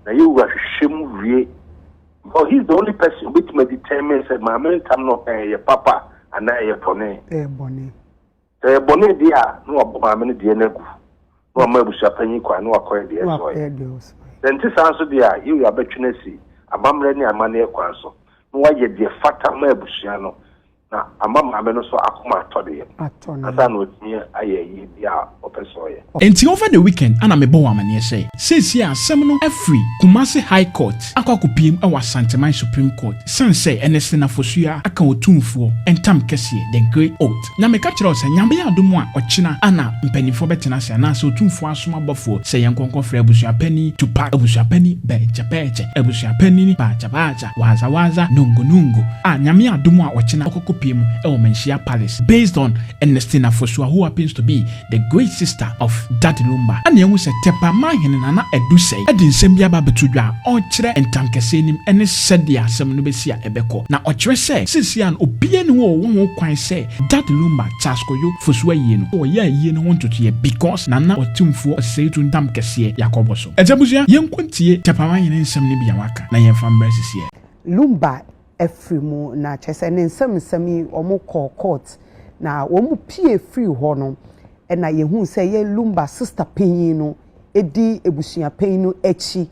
Na yɛ wura hwehwɛ mu wie because he is the only person obetumi determine sɛ maame ntam no ɛyɛ papa anaa ɛyɛ bɔne. Ɛyɛ bɔne. Sɛ ɛyɛ bɔne deɛ a na wabɔ maame no deɛ no agu na wama abusua panyin kwan na wakɔyɛ deɛ ɛsɛ ɔyɛ. Sɛ nte saa nso deɛ a yɛ wura bɛtwe no asi amammerɛ ne amanneɛ kwan so na wayɛ deɛ fata ma abusua no. na ama maame no nso akoma atɔ ne yam ansa na watumi ayɛ ayie bi a ɔpɛ sɛ ɔyɛ. Enti over the weekend na mebɔɔ amaneɛ sɛ seesei asɛm no afiri Kumasi High Court akɔ akɔpiem wɔ Asanteman Supreme Court ɛsiane sɛ ɛnɛ Sena Fosuaa aka Otumfoɔ ntam kɛseɛ, the great oath. Na meka kyerɛ wo sɛ Nyame yɛ adom a ɔkyena na mpaninfoɔ bɛtena ase anaasɛ Otumfoɔ asoma bɔfoɔ sɛ yɛnkɔ nkɔfrɛ Abusuapanin Tupac, Abusuapanin Bɛɛkyɛbɛɛkyɛ, Abusuapanin Baakyabaakyɛ, Wadza wadza nungo nungo a Nyame adom a ɔkyena ɔkɔkɔ pie mu wɔ Manhyia Palace based on Ernestina Fosuah who happens to be the great sister of Daddy Lumba na ehu sɛ Tɛpa Manhene Nana Adu Sɛɛ de nsɛm bi aba abɛto dwa a ɔrekyerɛ ntankɛseɛ nim ne sɛdeɛ asɛm no bɛsi a ɛbɛkɔ na ɔkyerɛ sɛ seesei no obiara nni hɔ a ɔwɔ ho kwan sɛ Daddy Lumba Charles Kojo Fosuah ayie no ɔyɛ ayie no ho ntotoeɛ because Nana Ɔtumfoɔ Ɔsɛetuo ntam kɛseɛ yɛ akɔbɔ so. Agya abusua yɛnkɔ ntie Tɛpa Manhene nsɛm no bi a waka. na yɛn fa mbrɛ sisi ɛ. Lumba afiri mu na kyerɛ sɛ ne nsɛm nsɛm yi wɔn kɔɔ court na wɔn pie firi hɔ no ɛna yɛhuu sɛ yɛ Lumba sister panyin no ɛdi abusua panyin no akyi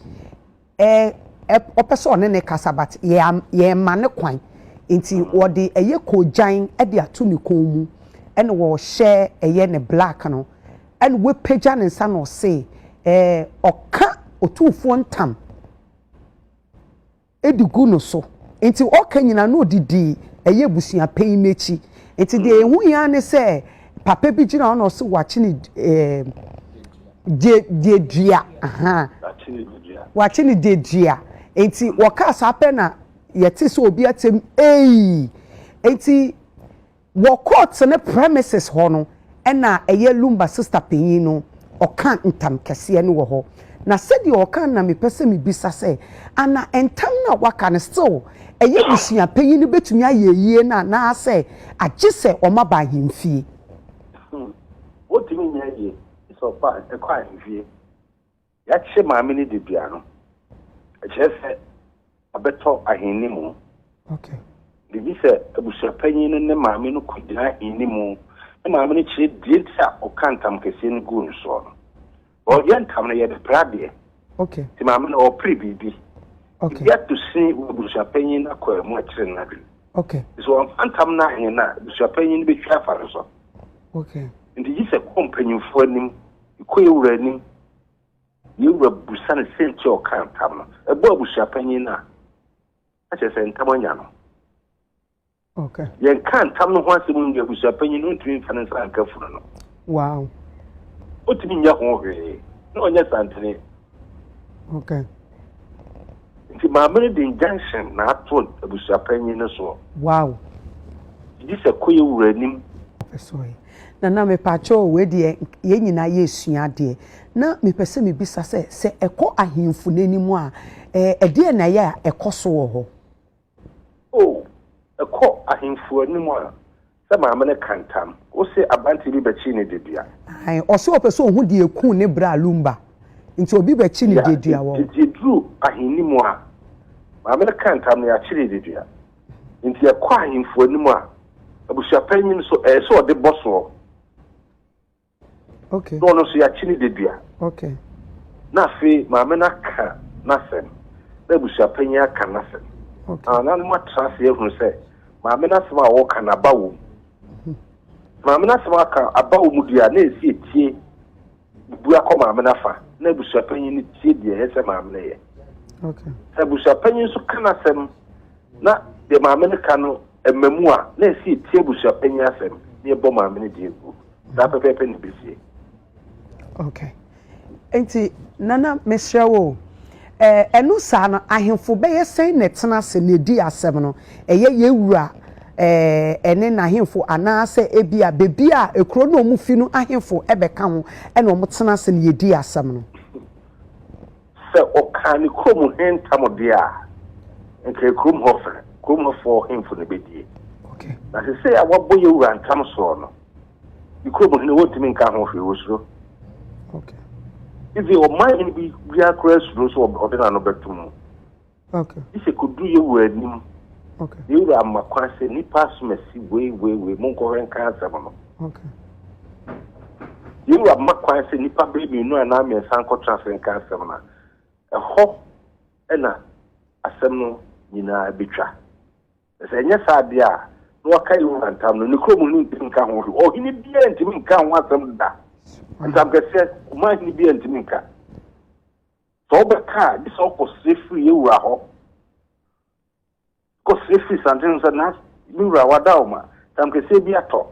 ɛ ɛ ɔpɛ sɛ ɔne ne kasa but yɛ yɛn ma ne kwan nti wɔde ɛyɛ kogyan ɛde ato ne kɔn mu ɛna wɔhyɛ ɛyɛ ne black no ɛna wapagya ne nsa na ɔse ɛɛ ɔka otumfoɔ ntam de gu no so. Nti ɔka nyina no ɔdidi ɛyɛ abusua panyin no akyi. Nti deɛ ɛho hia ne sɛ papa bi gyina hɔ na ɔse wakye ne eh, dedua. Wakye ne dedua. Nti wɔkaa saa pɛ na yɛte sɛ obi atɛm ei. Nti Wɔ court no premises hɔ no na ɛyɛ Lumba sister panyin no ɔka ntam kɛseɛ no wɔ hɔ. Na sɛdeɛ ɔka no na me pɛ sɛ me bisa sɛ ana ntam no a waka no still ɛyɛ abusua panyin no bɛtumi ayɛ ayie no anaa sɛ agye sɛ ɔma ba ahemfie? Ɔtumi nyɛ ayie sɛ ɔkɔ ahemfie. Yɛakye maame no de dua no. Ɛkyerɛ sɛ abɛtɔ ahenni mu. Biribi sɛ abusuapanyin no ne maame no kogyina ahenni mu ne maame no kyerɛ dua nti a ɔka ntam kɛseɛ no guu no soɔ no. Wɔyɛ ntam no yɛde pere adeɛ. Nti maame no ɔrepere biribi. Biribi ato sin wɔ abusuapanyin no akwaa mu akyere n'adwene. Nti sɛ wɔamfa ntam no anwene no a, abusuapanyin no bɛtwi afa no so. Nti gye sɛ kɔ mpanyimfoɔ anim. Kɔ yɛn wura anim. Yɛn wura bisa no sɛ nti a ɔkaa ntam no. Ɛbɔ abusua panyin no a, na kyerɛ sɛ ntam anya no. Yɛnka ntam no ho asɛm nwie abusua panyin no ntumi mfa ne nsa nka funu no. Wow. Otumi nyɛ ho hwee na ɔnyɛ santene. Okay. Nti maame no de injunction na ato abusua panyin no soɔ. Wow. Gye sɛ kɔ yɛ wura anim. Ɛsɔe. Nana mepakyɛw wei deɛ yɛn nyinaa yɛresua adeɛ na mepɛ sɛ mebisa sɛ sɛ ɛkɔ ahemfo no anim a ɛdeɛ na ɛyɛ a ɛkɔ so wɔ hɔ. O, ɛkɔ ahemfo anim a sɛ maame no ka ntam ose aberanteɛ bi bɛkye ne dedua. Ae, ɔse ɔpɛ sɛ ɔhu deɛ ɛkuu ne bra Lumba nti obi bɛkye ne dedua wɔ. Nti ɛduru ahenni mu a maame no ka ntam na yɛakye ne dedua. Enti ɛkɔ ahemfo anim a, abusuapanyin so ɛyɛ sɛ ɔde bɔ soɔ. Okay. Na ɔno nso yɛakye ne dadua. Okay. Na afei maame no aka n'asɛm na abusuapanyin aka n'asɛm. Okay. Na nanom atra ase ahunu sɛ maame n'asɛm a wɔka no aba wɔ mu. Hmm. Maame n'asɛm aka aba wɔ mu deɛ a na ɛsi etie. bua kɔ maame no afa na abusuapanyin no tie deɛ ɛyɛ sɛ maame no yɛ. Sɛ abusuapanyin nso ka n'asɛm na deɛ maame no ka no ɛma mu a, na ɛsɛ yɛtie abusuapanyin asɛm na yɛbɔ maame no deɛ gu. Saa pɛpɛɛpɛ na ɛbɛsie. Okay. Nti, Nana, mesrɛ wo, Ɛno saa no, ahemfo bɛyɛ sɛn na ɛtena ase na edi asɛm no? Ɛyɛ yɛn wura ne n'ahemfo anaasɛ ebia baabi a kurow no a wɔfi no ahemfo bɛka ho na wɔtena ase na yedi asɛm no? Sɛ ɔkaa ne kurom he ntam deɛ a, nka ɛyɛ kurom hɔ fɛ, kurom hɔfoɔ hemfo na ebedie. Na sesei a wabɔ yɛn wura ntam soɔ no, ne kurom hene wɔntumi nka ho hwee wɔsuro ivi ɔman hene bi biara koraa suro sɛ ɔde n'ano bɛto mu gye sɛ kɔduru yɛ wɔ anim yɛwura ama kwan sɛ nnipa asomasi wei wei wei monkɔhwɛ nka asɛm no yɛwura ama kwan sɛ nnipa bɛyɛ mmienu anaa mmiɛnsa nkɔtra ase nka asɛm no ɛhɔ ɛna asɛm no nyinaa bɛtwa Na sɛ ɛnyɛ saa de a, na wɔaka Yehowa ntam no, ne kurom hene ntumi nka ho hwee. Ɔhene biara ntumi nka ho asɛm da. Ntamkɛseɛ, ɔman hene biara ntumi nka. Sɛ ɔbɛka a, gye sɛ ɔkɔsrɛ firi yɛn wura hɔ. Kɔsrɛ firi santen no sɛ, na me wura wada wo ma, ntamkɛseɛ bi atɔ.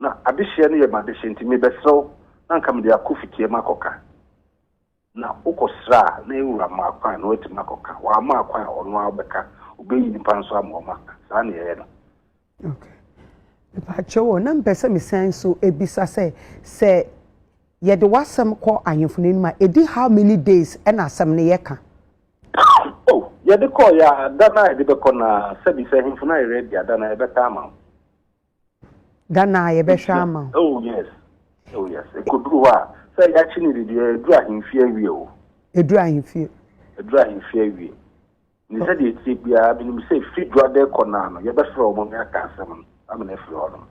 Na adehyeɛ no yɛ m'adehyeɛ nti mebɛsrɛ wo na anka mede akɔ fitia mu akɔka. Na wokɔsrɛ a, na wura mma akwan na watumi akɔka. Wamma akwan a, ɔno ara bɛka. Obeyi nnipa nso ama wɔn aka. Saa na yɛyɛ no. Okay. Mepaakyɛw o, na mepɛ sɛ mesan nso ebisa sɛ, sɛ yɛde w'asɛm kɔ ahemfo no anim a, edi how many days na asɛm no yɛ ka? Oh, yɛde kɔeɛ a, da no a yɛde bɛkɔ no ara, sɛbi, sɛ ahemfo no ayɛ ready a, da no ara yɛbɛka ama wo. Ghana a yɛbɛhwɛ ama wo. Oh yes, oh yes. Ekoduru hɔ a, sɛ yɛakye ne dedeɛ, eduru ahemfie awie o. Eduru ahemfie. Eduru ahemfie awie. Ne sɛ deɛ etie biara, menim sɛ fi dwa de kɔ naa no, yɛbɛfrɛ wɔn ne aka asɛm no ama no afiri hɔ nom.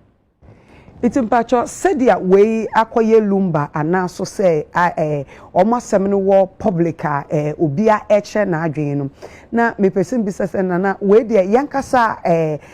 Nti mpakyɛ sɛdeɛ wei akɔyɛ lumba anaa so sɛ ɛɛ wɔn asɛm no wɔ public a ɛɛ obiara ɛkyerɛ n'adwene no, na mepɛ sɛ mbisa sɛ nana wei deɛ yɛn kasa ɛɛ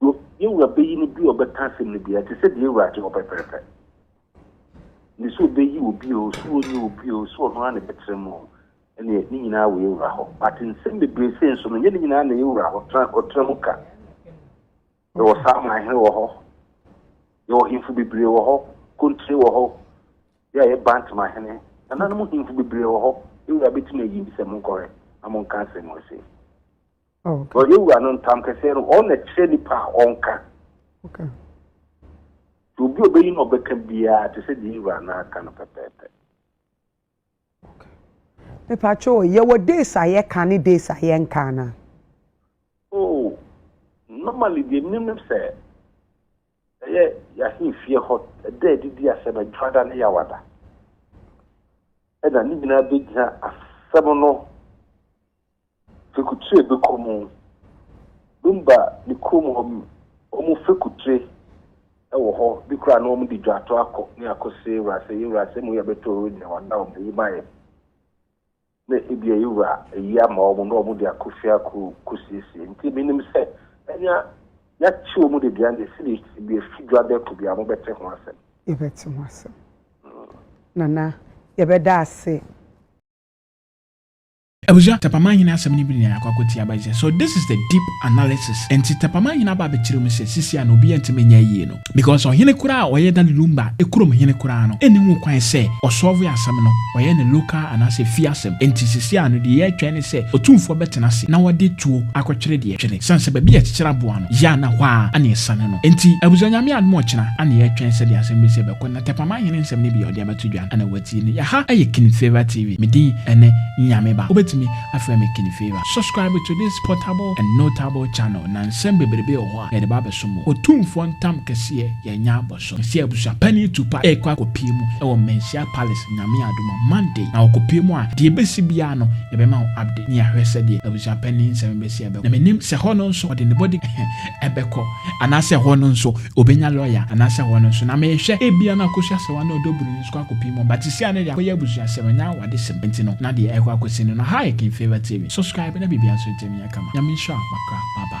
Yo, yɛn Wura bɛyi no bi a ɔbɛka asɛm no biara, te sɛ deɛ yɛn Wura gye hɔ pɛprɛpɛ. Ne sɛ ɔbɛyi obi o, sɛ ɔnyi obi o, sɛ ɔno ara na ɛbɛtena mu o, ɛneɛ ne nyinaa wɔ yɛn Wura hɔ. But nsɛm bebree sei nso no, nyɛ ne nyinaa na yɛn Wura hɔ tra, ɔtra mu ka. Yɛwɔ saa man hene wɔ hɔ, yɛwɔ hemfo bebree wɔ hɔ, kontire wɔ hɔ, yɛ a yɛ bant ma hene, nananom hemfo bebree wɔ hɔ, yɛn Wura bɛtumi ayi ne sɛ monkɔhwɛ na monka asɛm wɔ sei. Ɔyɛ wura no ntam kɛseɛ no, ɔno na ɛkyerɛ nipa a ɔnka. Nti obi a ɔbɛyi na ɔbɛka biara te sɛ deɛ wura no aka no pɛpɛɛpɛ. Mepatwo, yɛwɔ days a yɛka ne days a yɛnka no a? Oh, normally deɛ menim ne sɛ ɛyɛ yɛahemfie hɔ ɛda adidi asɛm adwada ne yɛawada ɛna ne nyinaa bɛgyina asɛm no Fekutre beko mu. Dumba ne kurom hɔ wɔn fekutre wɔ hɔ bi koraa na wɔn de dwato akɔ ne akɔsɛ wurasɛ yɛ wurasɛ mu yɛ bɛtɔ ɔwɔ nyina wɔn da wɔn ayi ma yɛ na ebi a yɛ wura ayi ama wɔn na wɔn de akɔ fie akɔ kɔsiesie nti menim sɛ ɛnya yɛakye wɔn de duane esi ne esi bi efi dwa bɛko bi a wɔn bɛte ho asɛm. Yɛbɛte ho asɛm. Nana yɛbɛda ase. Abusua, Tapamahene asɛm no bi na yɛakɔ akɔtie aba yi sɛ, so this is the deep analysis, ɛnti Tapamahene aba abɛkyerɛ mu sɛ sisi a na obiara ntumi nyɛ ayie no because ɔhene koraa a ɔyɛ Dali Lumba kurom hene koraa no nni ho kwan sɛ ɔsɔɔve asɛm no, ɔyɛ ne local anaasɛ efie asɛm, ɛnti sisi a no deɛ yɛretwɛn ne sɛ otumfoɔ bɛtena ase na wɔde tuo akɔtwere deɛ ɛtwere ɛsiane sɛ baabi a yɛkyekyere aboa no yɛ a na hɔ ara na ɛsane no ɛnti abusua Nyame adom ɔkyena na yɛretwɛn sɛdeɛ asɛm bɛsi ɛbɛkɔ. Ɔtɛpama hene nsɛm no bi a ɔde abɛto dwa na watie no. Yɛ ha yɛ King Favour TV. Me din ne Nyame Ba. Wobɛtumi afrɛ me King Favour. Subscribe to this portable and notable channel na nsɛm bebrebe wɔ hɔ a yɛde ba abɛso mo. Otumfoɔ ntam kɛseɛ yɛanya abɔ so. Mesia abusua panin Tupac rekɔ akɔpie mu wɔ Mencia Palace Nyame adom a Monday na ɔkɔpie mu a deɛ ɛbɛsi biara no yɛbɛma wo update ne yɛahwɛ sɛdeɛ abusua panin nsɛm bɛsi ɛbɛkɔ. Na menim sɛ hɔ no nso ɔde ne body ɛbɛkɔ anaasɛ ɛhɔ no nso obenya lɔya anaasɛ ɛhɔ no nso na mehwɛ ebia na akɔsu asɛwa na ɔdɔ buroni nso kɔ akɔpii mu but sesia no deɛ akɔyɛ abusuasɛm ɛnyɛ awadesɛm nti no na deɛ ɛkɔ akɔsi no no ha yɛ King Favour TV subscribe na biribiara nso ntɛm nyɛ kama Nyame nhyira wo makra bye bye.